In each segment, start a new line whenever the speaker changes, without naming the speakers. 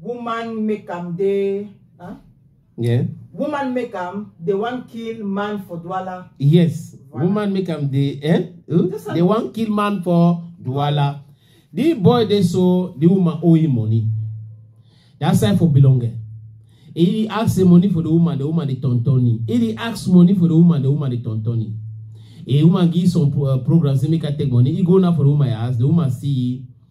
Woman make am dey. Huh? Yeah. Woman make am dey wan kill man for Douala. Yes. Voilà. Woman make am dey eh? Uh, This one- they wan kill man for Douala. The boy dey so the woman owe him money. That side for Bilonge. He dey ask the money for the woman, the woman dey turn turn him. He dey ask money for the woman, the woman dey turn turn him. A woman give some pro- uh, program say make her take money. He go now for the woman house. The woman see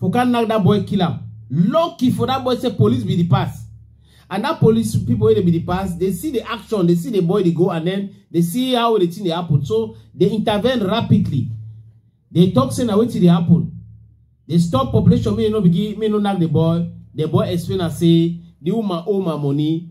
for can knock that boy kill am lucky for that boy say police be the pass and that police people wey dey be the pass dey see the action dey see the boy dey go and then dey see how the thing dey happen so dey intervene rapidly dey talk say na wetin dey happen dey stop population make e no begin make e no knack the boy the boy explain am say the woman owe my money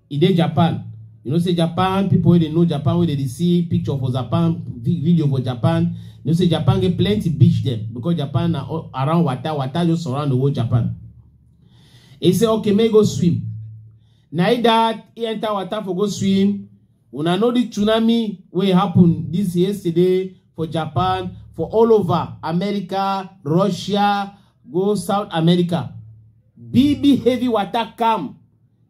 e dey japan you know say japan pipo wey dey know japan wey dey dey see picture for japan vi- video for japan you know say japan get plenty beach dem because japan na all around water water just surround the whole japan e say okay make e go swim na e dat e enter water for go swim una know the tsunami wey happen this yesterday for japan for all over america russia go south america big big heavy water come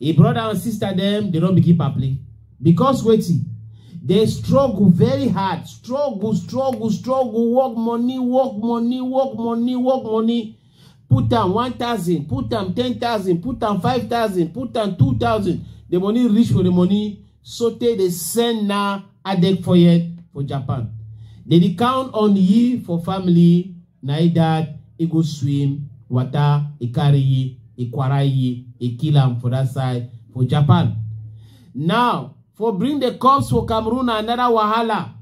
E brother and sister dem dey don begin paple because wetin dey struggle very hard struggle struggle struggle work money work money work money work money put am one thousand put am ten thousand put am five thousand put am two thousand the money reach for the money sotey dey send na adek for yet for Japan dey dey count on ye for family Na e dad e go swim wata e carry yi e kwara yi e kill am for dat side for Japan. Now for bring the corpse for Cameroon na another wahala.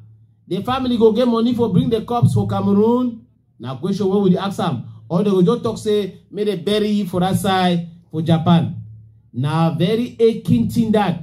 The family go get money for bring the corpse for Cameroon? Na question wey we dey ask am or dem go just talk say make dem bury yi for dat side for Japan. Na very aching thing dat.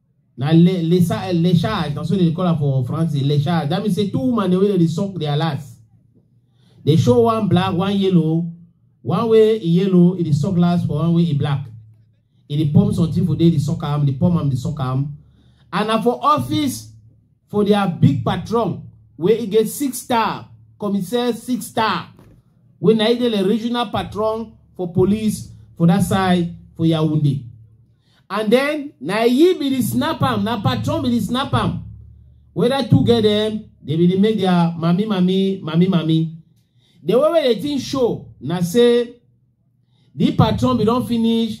na le le le charge na so they call am for france le charge that means say two woman dey wey dey suck their last dey show one black one yellow one way e yellow e dey suck last for one way e black e dey pump something for there dey suck am dey pump am dey suck am and na for office for their big patron wey e get six star commissaire six star wey na e dey the regional patron for police for that side for yaoundé and then na he be the snap am na patron be the snap am whether two get them they be dey make their mami mami mami mami the way wey the thing show na say the patron be don finish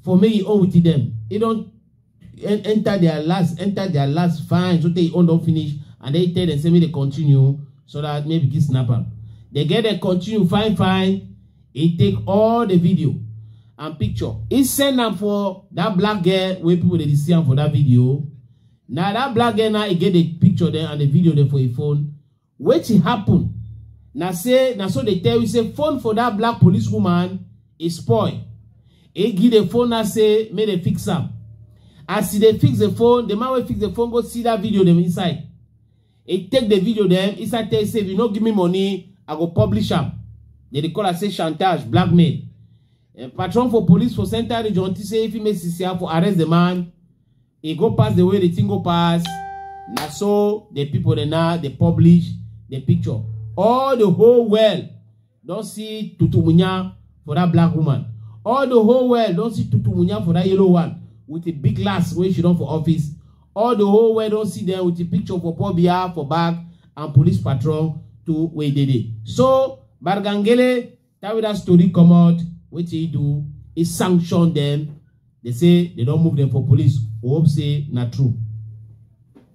for make e own with them e don en- enter their last enter their last fine so tey e own don finish and then e tell them say make they continue so that maybe fit snap am they get them continue fine fine He take all the video and picture. He send am for that black girl wey people dey see am for that video. Na that black girl now he get the picture there and the video there for him phone. Wetin happen? Na say na so they tell you say phone for that black police woman e spoil. He give the phone now say make they fix am. As he dey fix the phone, the man wey fix the phone go see that video dem inside. He take the video then inside tell say if you no give me money, I go publish am. They dey call am say chantage, blackmail. Uh, patron for police for central region think say if he make CCR for arrest the man, he go pass the way the thing go pass. Na so the people dey now dey publish the picture. All the whole world don see tutumunya for that black woman all the whole world don see tutumunya for that yellow one with a big glass wey she don for office all the whole world don see them with a picture for paul biya for back and police patrol to wey dey dey so bargangele carry that story comot wetin he do he sanction them they say they don move them for police we hope say na true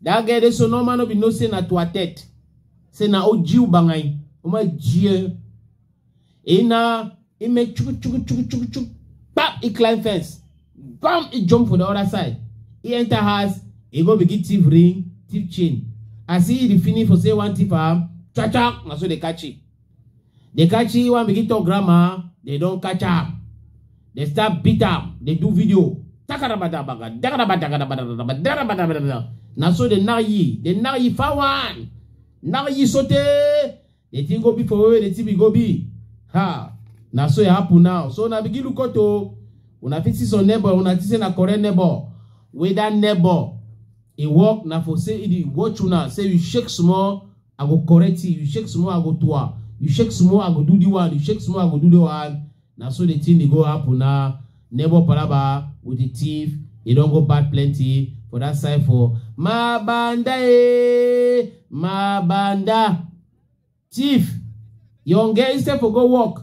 That guy dey so normal no be no say na to a tete. Say na o jiu bangai. Uma jie. Ina he make chuku chuku chuku chuku chuku. Bam! He climb fence. Bam! He jump for the other side. He enter house. He go begin thief ring, thief chain. As he dey finish for say one thief am, cha cha, na so they catch him. They catch you and begin talk grammar. They don't catch her. They start beat her. They do video. Takarabadabaga, dakarabadagadabadabada, dakarabadabadabada. Now so they now ye. They now ye for one. Now ye sote. They think go be for where they think we go be. Ha. Now so it happen now. So now begin look out to. Una fit see some neighbor. Una fit see na correct neighbor. Whether neighbor. He walk na for say he dey watch una. Say you shake small. I go correct you, you shake small, I go toa. You shake small, I go do the one, you shake small, I go do the one. Na so the thing dey go happen na. Neighbor palaba with the thief, e don go bad plenty for that side for Mabanda eh, Mabanda. Thief, young girl instead for go work,